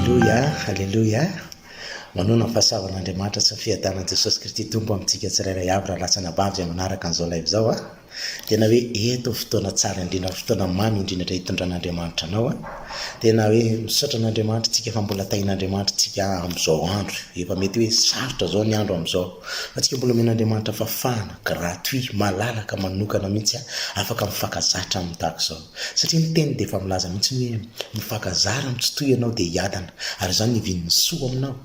Aleloia, Aleloia, Manoana ny fahasavan'Andriamanitra sy ny fiadanan'i Jesosy Kristy Tompo amintsika tsirairay avy raha lasa anabavy izay manaraka an'izao live izao an! Tena hoe eto ny fotoana tsara indrindra, ny fotoana mamy indrindra hitondran'Andriamanitra anao an! Tena hoe misaotra an'Andriamanitra tsika fa mbola tahin'Andriamanitra tsika amin'izao andro, efa mety hoe sarotra izao ny andro amin'izao fa tsika mbola omen'Andriamanitra fahafahana, Gratuit, malalaka, manokana mihitsy a! Afaka mifankazatra aminy tahaka izao. Satria ny teny dia efa milaza mihitsy ny hoe, mifankazara amin'ny tsy toy ianao dia hiadana, ary izany hivian'ny soa aminao.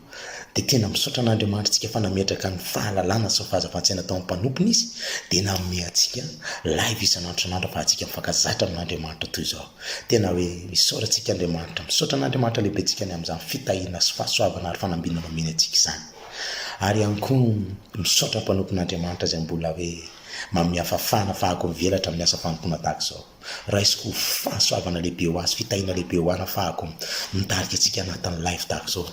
Dia tena misaotra an'Andriamanitrtsika fa nametraka ny fahalalana sy ny fahazavan-tsaina tao amin'ny mpanompony Izy, dia nanome antsika live isan'andro isan'andro afahantsika mifankazatra amin'Andriamanitra toy izao. Tena hoe isaora antsika Andriamanitra, misaotra an'Andriamanitra Lehibentsika ny amin'izany fitahiana sy fahasoavana ary fanambinana omeny antsika izany. Ary ihany koa, misaotra mpanompon'Andriamanitra izay mbola hoe mamia fafana fahako mivelatra amin'ny asa fanompoana tahaka izao. Raisiko ho fahasoavana lehibe ho azy, fitahiana lehibe ho ana fahako mitarika antsika anatin'ny live tahaka izao,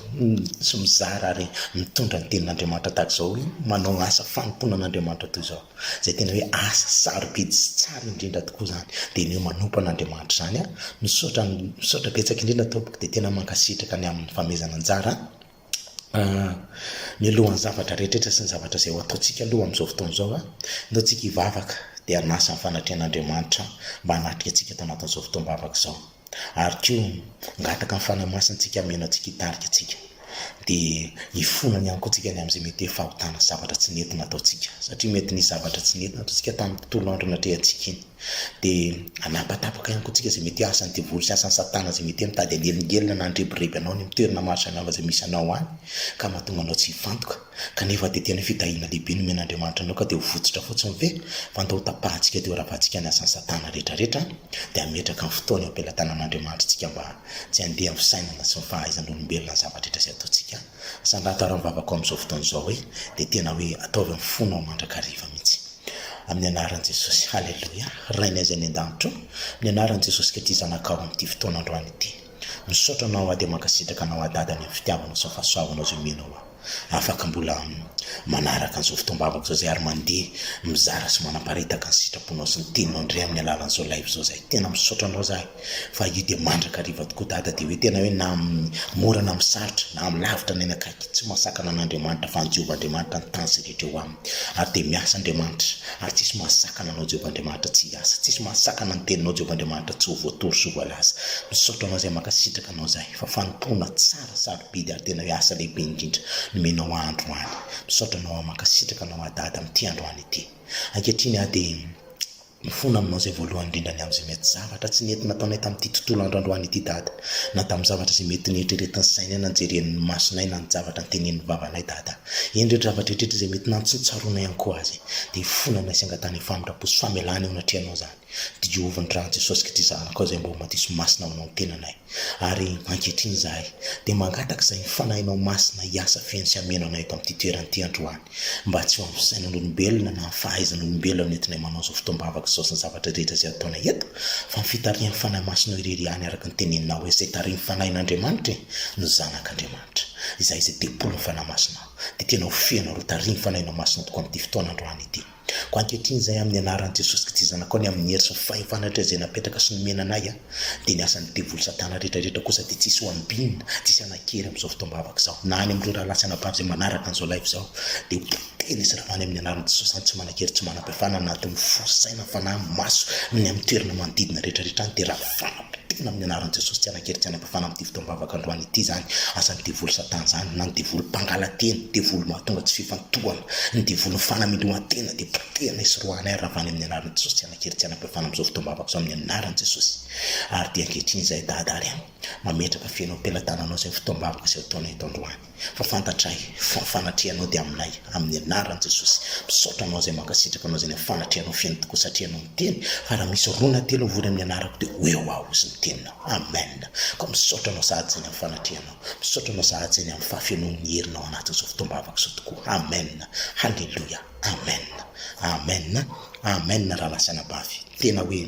sy mizara ary mitondra ny tenin'Andriamanitra tahaka izao, hoe manao asa fanompoana an'Andriamanitra toy izao. Izay tena hoe asa sarobidy sy tsara indrindra tokoa izany, dia ny hoe manompo an'Andriamanitra izany an! Misaotra, misaotra betsaka indrindra tompoko, dia tena mankasitraka ny amin'ny famehezana anjara an! mialohan'ny zavatra rehetra sy ny zavatra izay ho ataontsika aloha amin'izao fotoana izao an, ataontsika hivavaka dia hanasa ny fanatrehan'Andriamanitra mba hanatrika antsika ato anatin'izao fotoam-bavaka izao. Ary koa hangataka ny Fanahy Masina antsika hameno antsika hitarika antsika. Dia hifona any amiko antsika ny amin'izay mety hoe fahotana sy zavatra tsy nety nataontsika. Satria mety nisy zavatra tsy nety nataontsika tamin'ny tontolo andro natrehantsika iny. Dia hanapatapaka ihany koa tsika izay mety asan'ny devoly sy asan'i satana izay mety hoe mitady hanelingelina na handrebireby anao any amin'ny toerana maro samihafa izay misy anao any ka mahatonga anao tsy hifantoka kanefa dia tena hoe fitahiana lehibe no omen'Andriamanitra anao ka dia ho votsotra fotsiny ve? fa nde ho tapahantsika dia ho ravahantsika ny asan'i satana rehetrarehetra dia hametraka ny fotoany eo am-pelatanan'Andriamanitra isika mba tsy handeha amin'ny fisainana sy ny fahaizan'olombelona ny zava-drehetra izay ataontsika sanataro amin'ny vavaka ao amin'izao fotoana izao hoe dia tena hoe ataovy amin'ny fonao mandrakariva mihitsy. Amin'ny anaran'i Jesosy, haleloia, Rainay izay any an-danitra ô, amin'ny anaran'i Jesosy ka ity zanakao amin'ity fotoana androany ity. Misaotra Anao aho dia mankasitraka Anao aho Dada ny amin'ny fitiavanao sy ny fahasoavanao izay omenao aho. Afaka mbola manaraka an'izao fotoam-bavako izao izay ary mandeha mizara sy manaparitaka ny sitraponao sy ny teninao indray amin'ny alalan'izao live izao izahay. Tena misaotra Anao izahay. Fa io dia mandrakariva tokoa Dada dia hoe tena hoe na amin'ny mora na amin'ny sarotra, na amin'ny lavitra na eny akaiky, tsy mahasakana an'Andriamanitra fa an'i Jehovah Andriamanitra ny tany sy ny rehetra eo aminy. Ary dia miasa Andriamanitra, ary tsisy mahasakana anao Jehovah Andriamanitra tsy hiasa, tsisy mahasakana ny teninao Jehovah Andriamanitra tsy ho voatory sy ho voalaza. Misaotra anao izay mankasitraka anao izahay fa fanompoana tsara sarobidy ary tena hoe asa lehibe indrindra nomenao ahy androany. Misaotra anao aho, mankasitraka anao aho Dada amin'ity androany ity. Ankehitriny aho dia. Mifona aminao izay voalohany indrindra ny amin'izay mety zavatra tsy nety nataonay tamin'ity tontolo andro androany ity Dada, na tamin'ny zavatra izay mety neritreretin'ny sainay na njeren'ny masonay na ny javatra notenenin'ny vavanay Dada. Eny ireo dravatra rehetra izay mety nantsintsaronay ihany koa azy dia hifona aminay sy hangatahana famindram-po sy famelana eo anatrehanao izany Diovy ny ràn'i Jesosy Kity Zanakao izay mba ho madiso masina ho anao ny tenanay. Ary ankehitriny izahay dia mangataka izay ny Fanahinao Masina hiasa feno sy hameno anay eto amin'ity toerana ity androany, mba tsy ho amin'ny fisainan'olombelona na ny fahaizan'olombelona no entinay manao izao fotoam-bavaka izao sy ny zavatra rehetra izay ataonay eto, fa ny fitarihan'ny Fanahy Masinao irery ihany araka ny Teneninao hoe izay tarihin'ny Fanahin'Andriamanitra e, no zanak'Andriamanitra. Izahay izay tempolin'ny Fanahy Masinao, dia tena ho feno ary ho tarihin'ny Fanahinao Masina tokoa amin'ity fotoana androany ity. Koa ankehitriny izay amin'ny anaran'i Jesosy Kristy Zanakao ny amin'ny hery sy ny fahefana rehetra izay napetaka sy nomena anay a dia ny asan'ny devoly satana rehetra rehetra kosa dia tsisy ho ambinina tsisy hanankery amin'izao fotoam-bavaka izao na any amin'ireo rahalahy sy anabavy izay manaraka an'izao live izao dia ho potehina sy ravana amin'ny anaran'i Jesosy any tsy manankery tsy manam-pahefana anatin'ny fo saina fanahy maso ny amin'ny toerana manodidina rehetra rehetra any dia ravana Kitihina amin'ny anaran'i Jesosy tsy hanan-kery tsy hanam-pahefana amin'ity fotoam-bavaka androany ity izany asan'ny devoly satana izany na ny devoly mpangalan-teny, devoly mahatonga tsy fifantohana, ny devolin'ny fanamelohan-tena dia potehanay sy roahanay ary ravahanay amin'ny anaran'i Jesosy tsy hanan-kery tsy hanam-pahefana amin'izao fotoam-bavaka izao amin'ny anaran'i Jesosy. Ary dia ankehitriny izahay Dada ary Ama mametraka feno am-pelatananao izay fotoam-bavaka izay ho ataonay eto androany. fa fantatray fa fanatrehanao dia aminay amin'ny anaran'i Jesosy misaotra anao izay mankasitraka anao izay fanatrehanao feno tokoa satria ianao miteny fa raha misy roa na telo mivory amin'ny anarako dia ho eo aho izy ny teninao amen koa misaotra anao sahady izay ny amin'ny fanatrehanao misaotra anao sahady izay ny amin'ny fahafenoan'ny herinao anatin'izao fotoam-bavaka izao tokoa amen haleloia amen amen amen rahalahasy anabavy tena hoe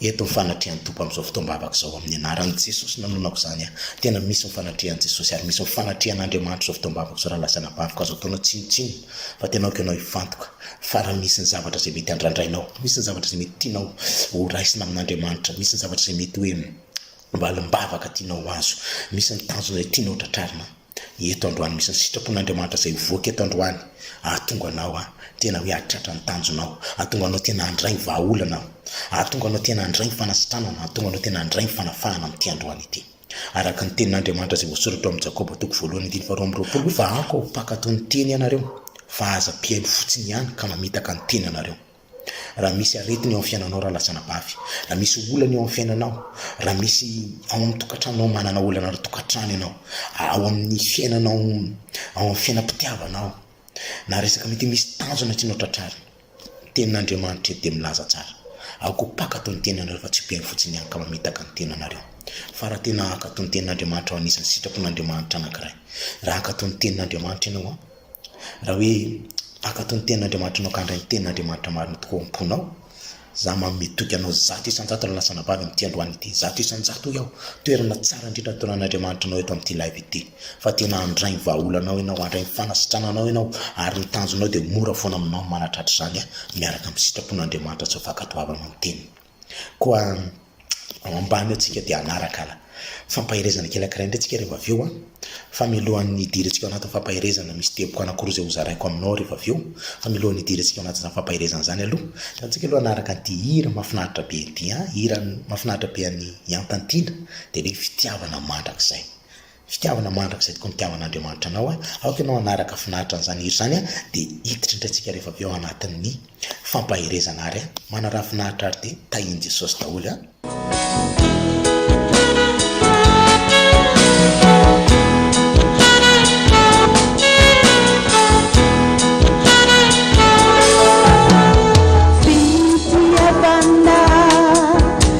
Eto ny fanatrehan'ny Tompo amin'izao fotoam-bavaka izao amin'ny anaran'i Jesosy no nanonako izany aho. Tena misy ny fanatrehan'i Jesosy ary misy ny fanatrehan'Andriamanitra izao fotoam-bavaka izao rahalahy sy anabaviko, azo ataonao tsinontsinona fa tena aoka ianao hifantoka fa raha misy ny zavatra izay mety handrandrainao, misy ny zavatra izay mety tianao horaisina amin'Andriamanitra, misy ny zavatra izay mety hoe valimbavaka tianao ho azo, misy ny tanjona izay tianao tratrarina. Eto androany misy ny sitrapon'Andriamanitra izay hivoaka eto androany ahatonga anao tena hoe hahatratra ny tanjonao, hahatonga anao tena handray ny vahaolana aho, hahatonga anao tena handray ny fanasitranana, hahatonga anao tena handray ny fanafahana amin'ity androany ity. Araka ny tenin'Andriamanitra izay voasoratra ao amin'ny Jakoba toko voalohany andininy faharoa amby roapolo, fa amiko aho ho mpakatò ny teny ianareo, fa aza mpihaino fotsiny ihany ka mamitaka ny teny ianareo. Raha misy aretina eo amin'ny fiainanao raha lasa anabavy, raha misy olana eo amin'ny fiainanao, raha misy ao amin'ny tokantranonao manana olana ara-tokantrano ianao, ao amin'ny fiainanao ao amin'ny fiainam-pitiavana ao, na resaka mety misy tanjona tianao tratrarina, ny tenin'Andriamanitra eto dia milaza tsara, ao koa mpankatò ny tenanareo fa tsy mpino fotsiny ihany ka mamitaka ny tenanareo. Fa raha tena hankatò ny tenin'Andriamanitra ao anisan'ny sitrapon'Andriamanitra anankiray, raha hankatò ny tenin'Andriamanitra ianao an, Raha hoe hankatò ny tenin'Andriamanitrao ka handray ny tenin'Andriamanitra marina tokoa ao am-ponao, Izaho manome toky anao zato isan-jato raha lasa anabavy amin'ity androany ity. Zato isan-jato hoy aho. Toerana tsara indrindra nitoran'Andriamanitra anao eto amin'ity live ity. Fa tena handray ny vahaolanao ianao, handray ny fanasitrananao ianao, ary ny tanjonao dia mora foana aminao ny manatratra izany miaraka amin'ny sitrapon'Andriamanitra sy ny fankatoavanao ny teniny. Koa ao ambany eo tsika dia hanaraka la fampaherezana kely ankiray indray tsika ry vavio a! Fa milohan'ny hidirantsika ao anatin'ny fampaherezana misy teboka anankiroa izay hozaraiko aminao ry vavio, fa milohan'ny hidirantsika ao anatin'izany fampaherezana izany aloha, antsika aloha hanaraka an'ity hira mahafinaritra be ity an! Hira mahafinaritra be an'i Iantantina dia hoe fitiavana mandrakizay. Fitiavana mandrakizay tokoa ny hitiavan'Andriamanitra anao. Aoka ianao hanaraka finaritra an'izany hira izany dia hiditra indray tsika rehefa avy eo anatin'ny fampaherezana ary manaraha finaritra ary dia tahian'i Jesosy daholo an.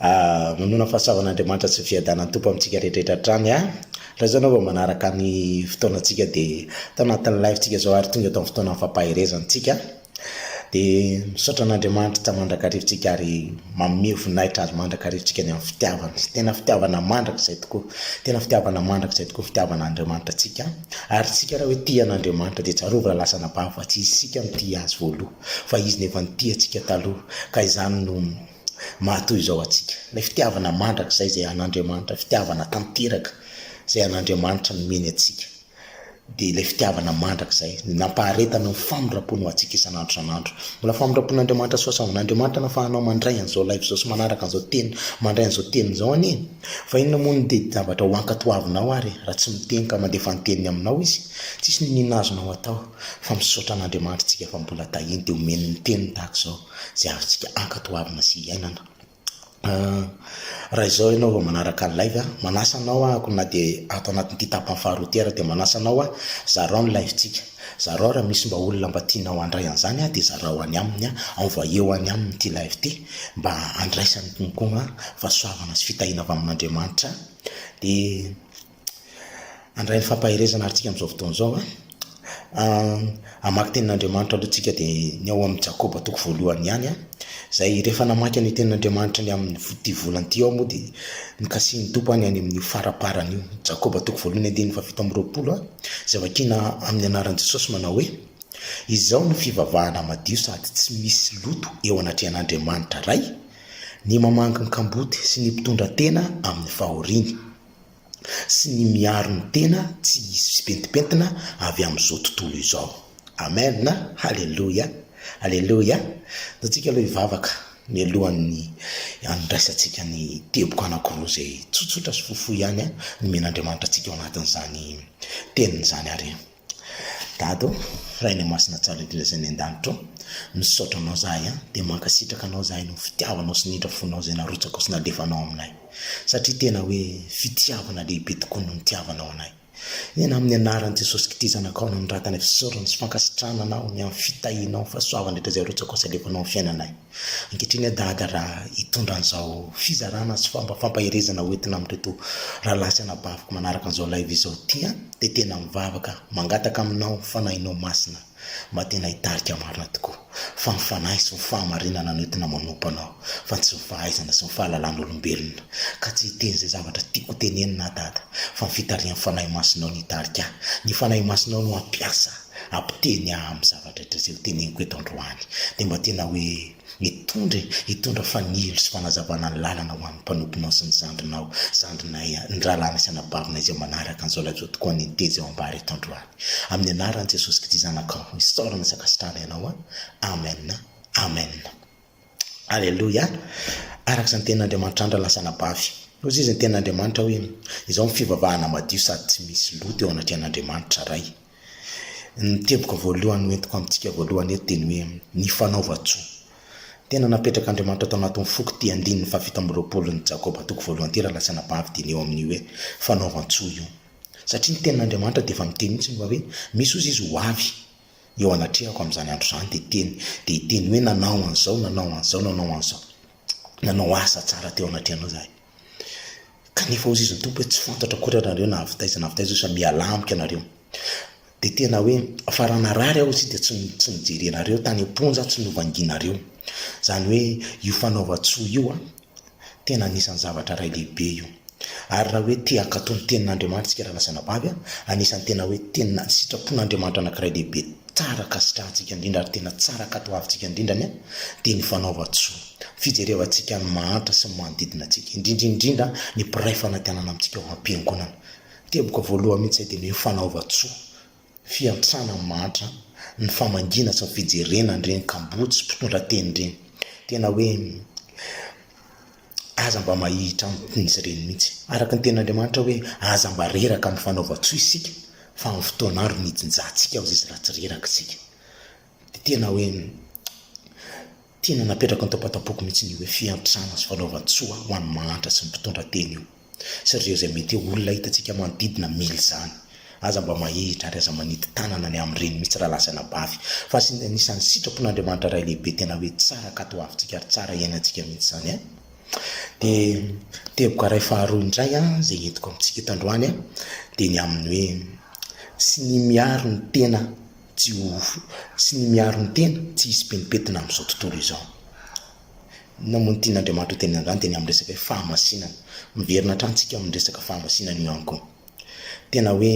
Ahh manoloana fahasoavan' Andriamanitra sy ny fiadanan Tompo amintsika rehetra hatrany an! Raha izao ianao vao manaraka ny fotoanantsika dia tao anatin'ny live tsika izao ary tonga tao amin'ny fotoanan'ny fampaherezana tsika an! Dia misaotra an' Andriamanitra tsy mandrakariva tsika ary manome voninahitra Azy mandrakariva tsika ny amin'ny fitiavany, tena fitiavana mandrakizay tokoa, tena fitiavana mandrakizay tokoa ny fitiavan' Andriamanitra antsika an! Ary isika raha hoe tia an' Andriamanitra dia tsarovy raha lasa anabavy fa tsy isika no tia Azy voaloha. fa izy no efa nitia antsika taloha ka izany no maha toy izao antsika. Ilay fitiavana mandrakizay izay an'Andriamanitra, fitiavana tanteraka izay an'Andriamanitra nomeny antsika, dia ilay fitiavana mandrakizay nampaharetany ny famindram-pony ho antsika isan'andro isan'andro. Mbola famindram-pon'Andriamanitra sy fahasoavan'Andriamanitra no afahanao mandray an'izao live izao sy manaraka an'izao teny, mandray an'izao teny izao anie e! Fa inona moa ny teti-javatra ho ankatoavinao ary raha tsy miteny ka mandefa ny teniny aminao izy? Tsisy nonina azonao atao. Fa misaotra an'Andriamanitra tsika fa mbola tahiny dia omeny ny teniny tahaka izao izay azontsika ankatoavina sy iainana. Raha izao ianao vao manaraka ny live a, manasa anao ahako na dia ato anatin'ity tapany faharoa ity ary dia manasa anao hoe zarao ny live tsika, zarao raha misy mba olona mba tianao handray an'izany a dia zarao any aminy a, envoyeo any aminy ity live ity mba handraisany koa fa soavana sy fitahiana avy amin'Andriamanitra dia handray ny fampaherezana ary tsika amin'izao fotoana izao an. Hamaky tenin'Andriamanitra aloha tsika dia ny ao amin'ny Jakoba toko voalohany ihany an. Izay rehefa namaky an'io tenin'Andriamanitra ny amin'ity volana ity aho moa dia nikasihin'ny Tompo ahy ny any amin'io faraparany io. Jakoba toko voalohany andininy fahafito amby roapolo an, izay vakiana amin'ny anaran'i Jesosy manao hoe, Izao no fivavahana madio sady tsy misy loto eo anatrehan'Andriamanitra Ray, ny mamangy ny kamboty sy ny mpitondra tena amin'ny fahoriany. sy ny miaro ny tena tsy hisy fipentimpentina avy amin'izao tontolo izao. Amen! Haleloia! Haleloia! Dia antsika aloha hivavaka mialohan'ny handraisantsika ny teboka anankiroa izay tsotsotra sy fohifohy ihany nomen'Andriamanitra antsika ao anatin'izany teniny izany ary. Dada ô, Ray le masina tsara indrindra izay any an-danitra ô, misaotra anao zahay an, dia mankasitraka anao zahay noho ny fitiavanao sy ny indra fonao izay narotsakao sy nalefanao aminay, satria tena hoe fitiavana lehibe tokoa no nitiavanao anay. Eny amin'ny anaran'i Jesosy kty zanakao no anoratana fisaorana sy fankasitrahana anao ny amin'ny fitahianao, fahasoavana rehetra izay arotsakao sy alefanao amin'ny fiainanay. Ankehitriny aho dada raha hitondra an'izao fizarana sy fomba fampaherezana ho entina amin'ireto rahalahy sy anabaviko manaraka an'izao live izao ity an, dia tena mivavaka mangataka aminao ny Fanahinao Masina mba tena hitarika marina tokoa, fa ny Fanahy sy ny fahamarinana no entina manompo anao fa tsy ny fahaizana sy ny fahalalan'olombelona, ka tsy hiteny izay zavatra tiako ho tenenina aho dada fa ny fitarihan'ny Fanahy Masinao no hitarika ahy, ny Fanahy Masinao no hampiasa hampiteny ahy amin'izavatra. Andraikitra izay ho teneniko eto androany dia mba tena hoe hitondra e, hitondra fanilo sy fanazavana ny lalana ho an'ny mpanomponao sy ny zandrinao, zandrinay, ny rahalahina sy anabavinay izay manaraka an'izao lajao tokoa ny niteza eo ambara eto androany. Amin'ny anaran'i Jesosy Kristy Zanakao, isaorana sy ankasitrahana ianao an! Amen! Amen! Aleloia! Araka izany tenin' Andriamanitra andra lasa anabavy. Hoy izy ny tenin' Andriamanitra hoe, Izao ny fivavahana madio sady tsy misy loto eo anatrehan' Andriamanitra Ray. Ny teboka voalohany hoentiko amintsika voalohany eto dia ny hoe ny fanaovan-tsoa. Tena napetrak' Andriamanitra tao anatin' ny foko ity andininy fahafito amby roapolon' ny Jakoba toko voalohany ity raha lasa anabavy dia ny eo amin' io hoe fanaovan-tsoa io. Satria ny tenin' Andriamanitra dia efa miteny mihitsy ny hoe misy ozy izy ho avy. eo anatrehako amin'izany andro izany dia teny dia hiteny hoe nanao an'izao nanao an'izao nanao an'izao nanao asa tsara teo anatrehanao izahay kanefa hozy izy ny tompo hoe tsy fantatra akory ianareo na avy taiza na avy taiza osa mialà amiko ianareo dia tena hoe fa raha narary aho izy dia tsy tsy nijery anareo tany am-ponja tsy novangianareo izany hoe io fanaovan-tsoa io a Tena anisan'ny zavatra iray lehibe io. Ary raha hoe te hankatò ny Tenin'Andriamanitra isika razanabavy, anisan'ny tena hoe tena sitrapon'Andriamanitra anankiray lehibe tsara ankasitrahantsika indrindra ary tena tsara ankatoavintsika indrindra anie dia ny fanaovan-tsoa, fijerevantsika ny mahantra sy ny manodidina antsika, indrindra indrindra ny mpiray fanantenana amintsika ao am-piangonana. Teboka voalohany mihitsy izay dia ny hoe fanaovan-tsoa. fiantrana mantra ny famangiana sy ny fijerena an'ireny kamboty sy mpitondra teny ireny. Tena hoe aza mba mahihitra amin'izy ireny mihitsy. Araka ny tenin'Andriamanitra hoe aza mba reraka amin'ny fanaovan-tsoa isika fa amin'ny fotoana andro ny hijinjahantsika ao izay tsy ratsy reraka isika. Dia tena hoe. Tena napetrako an-tampantapoko mihitsy ny hoe fiantrana sy fanaovan-tsoa ho an'ny mahantra sy ny mpitondra teny io, sy ireo izay mety ho olona hitantsika manodidina mila izany. Aza mba mahihitra ary aza manity tanana ny amin'ireny mihitsy raha lasa anabavy, fa asin anisan'ny sitrapon'Andriamanitra Ray Lehibe tena hoe tsara katoavintsika ary tsara iainantsika mihitsy izany an! Dia teboka iray faharoa indray an, izay entiko amintsika eto androany an, dia ny amin'ny hoe, Tsy ny miaro ny tena tsy ho sy ny miaro ny tena tsy hisy pentimpetina amin'izao tontolo izao. Namono tiana Andriamanitra ho teny an-drano dia ny amin'ny resaka hoe fahamasinana. Miverina hatrany isika amin'ny resaka fahamasinana io ihany koa. Tena hoe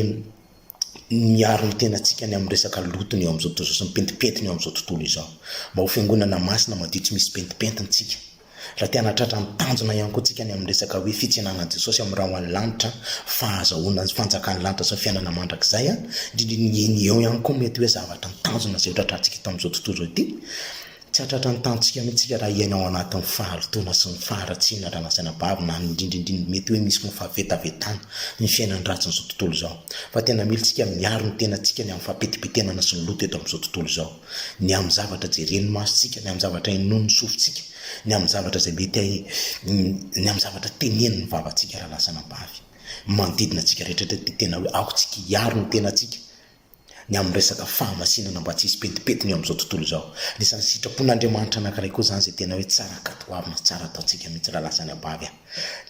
miaro ny tenantsika ny amin'ny resaka lotony eo amin'izao tontolo izao sy ny pentimpetina eo amin'izao tontolo izao. Mba ho fiangonana masina madio tsy misy pentimpentina isika. Raha te hanatratra ny tanjona ihany koa tsika ny amin'ny resaka hoe fitsenanan'i Jesosy amin'ny ra ho an'ny lanitra, fahazahoana ny fanjakan'ny lanitra sy ny fiainana mandrakizay, indrindra ny eo ihany koa mety hoe zavatra ny tanjona izay ho tratratsika eto amin'izao tontolo izao ity. Tsy hahatratra ny tanjontsika mihitsy isika raha hiaina ao anatin'ny fahalotoana sy ny faharatsiana raha nasaina babo na indrindra indrindra mety hoe misy ny fahavetavetana ny fiainan'ny ratsin'izao tontolo izao. Fa tena mila isika miaro ny tenantsika ny amin'ny fahapetipitenana sy ny loto eto amin'izao tontolo izao. ny amin'ny zavatra jeren'ny masontsika, ny amin'ny zavatra inoan'ny sofintsika, ny amin'ny zavatra izay mety hay, ny amin'ny zavatra tenenin'ny vavantsika raha lasa anabavy. Ny manodidina antsika rehetra dia tena hoe aoka isika hiaro ny tenantsika, ny amin'ny resaka fahamasinana mba tsy hisy pentimpentina eo amin'izao tontolo izao. Anisan'ny sitrapon'Andriamanitra anankiray koa izany izay tena hoe tsara katoavina, tsara ataontsika mihitsy raha lasa anabavy.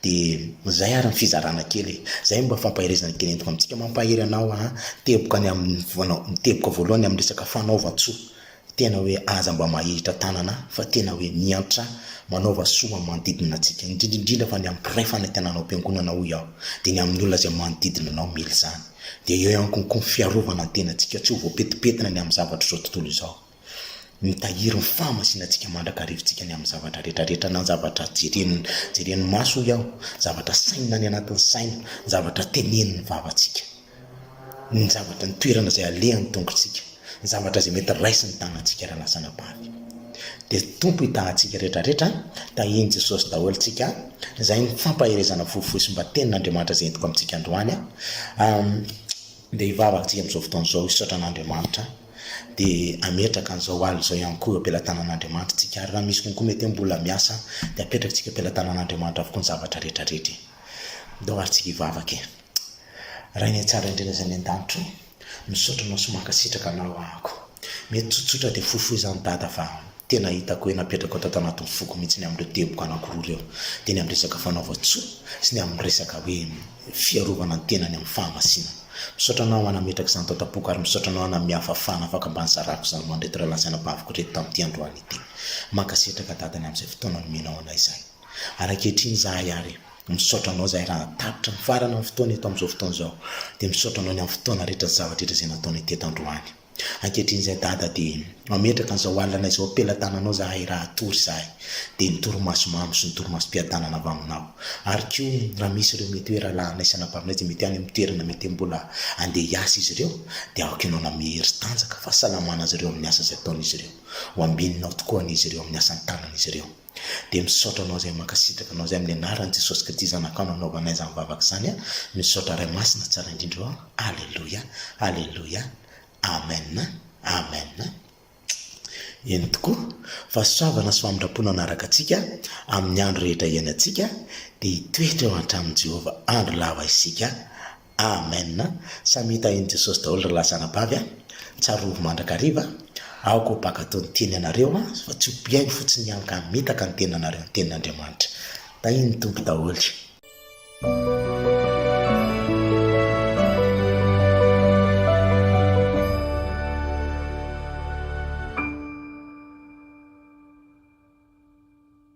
Dia izay ary ny fizarana kely e! Izay no mba fampaherezana kely entiko amintsika. Mampahery anao aho teboka ny amin'ny voanao, ny teboka voalohany amin'ny resaka fanaovan-tsoa. Tena hoe aza mba mahihitra tanana fa tena hoe miantra manaova soa amin'ny manodidina antsika, indrindra indrindra fa ny amin'ny mpiray fanantenana ao am-piangonana hoy aho, dia ny amin'ny olona izay manodidina anao mila izany. Dia eo ihany koa ny fiarovana ny tenantsika tsy ho voapetipetina ny amin'ny zavatr'izao tontolo izao. Mitahiry ny fahamasinantsika mandrakarivantsika ny amin'ny zavatra rehetra rehetra na ny zavatra jeren'ny jeren'ny maso hoy aho, ny zavatra sainina any anatin'ny saina, ny zavatra tenen'ny vavantsika, ny zavatra ny toerana izay alehan'ny tongotsika, ny zavatra izay mety raisin'ny tanantsika raha lasa anabavy. Dia Tompo i Dadantsika rehetra rehetra an, tahian'i Jesosy daholo tsika an, izay ny fampaherezana fohifohy sy mba tenin'Andriamanitra izay entiko amintsika androany an, dia hivavaka tsika amin'izao fotoana izao hisaotra an'Andriamanitra an. dia hametraka an'izao alina izao ihany koa eo am-pelatanan'Andriamanitra tsika, ary raha misy konko mety hoe mbola miasa dia apetraka tsika eo am-pelatanan'Andriamanitra avokoa ny zavatra rehetra rehetra e! Ndao ary tsika hivavaka e! Rainay tsara indrindra izay any an-danitra o! Misaotra anao sy mankasitraka anao ahako! Mety tsotsotra dia fohifohy izany Dada fa tena hitako hoe napetrakao tato anatin'ny foko mihitsy ny amin'ireo teboka anankiroa ireo, dia ny amin'ny resaka fanaovan-tsoa sy ny amin'ny resaka hoe ny fiarovana ny tenany amin'ny fahamasinana. Misaotra anao Ana ametraka izany tao tapoka ary misaotra anao Ana miha fafana afaka mba nizarako izany ho an'ireto rahalahy sy anabaviko ireto tamin'ity androany ity. Mankasitraka Dada ny amin'izay fotoana nomenao anay izany. Ary ankehitriny izahay ary misaotra anao izahay raha tapitra nifarana ny fotoana eto amin'izao fotoana izao. Dia misaotra anao ny amin'ny fotoana rehetra sy zavatra rehetra izay nataonay teto androany. Ankehitriny izay Dada dia mametraka an'izao alina izao am-pelatananao izahay raha hatory izahay dia ny torimaso mamo sy ny torimasom-piadanana avy aminao ary koa raha misy ireo mety hoe rahalahinay sy anabavynay izay mety any amin'ny toerana mety mbola handeha hiasa izy ireo dia aoka ianao hanome hery tanjaka fahasalamana azy ireo amin'ny asa izay ataon'izy ireo. Ho ambininao tokoa anie izy ireo amin'ny asan-tanan'izy ireo. Dia misaotra anao izay mankasitraka anao izay amin'ny anaran'i Jesosy Kristy zanakao nanaovanay izany vavaka izany an! Misaotra Ray Masina tsara indrindra ô! Aleloia! Aleloia! Amen! Amen! Eny tokoa, fahasoavana sy famindram-po nanaraka antsika amin'ny andro rehetra iainantsika, dia hitoetra eo an-tranon'i Jehovah andro lava isika. Amen samy hita eny Jesosy daholo ry lahy zanabavy a! Tsarovy mandrakariva a! Aoka ho baka toy ny tiany ianareo a! fa tsy ho mpihaino fotsiny ihany ka hamitaka ny tenanareo ny tenin'Andriamanitra. Tahian'ny Tompo daholo.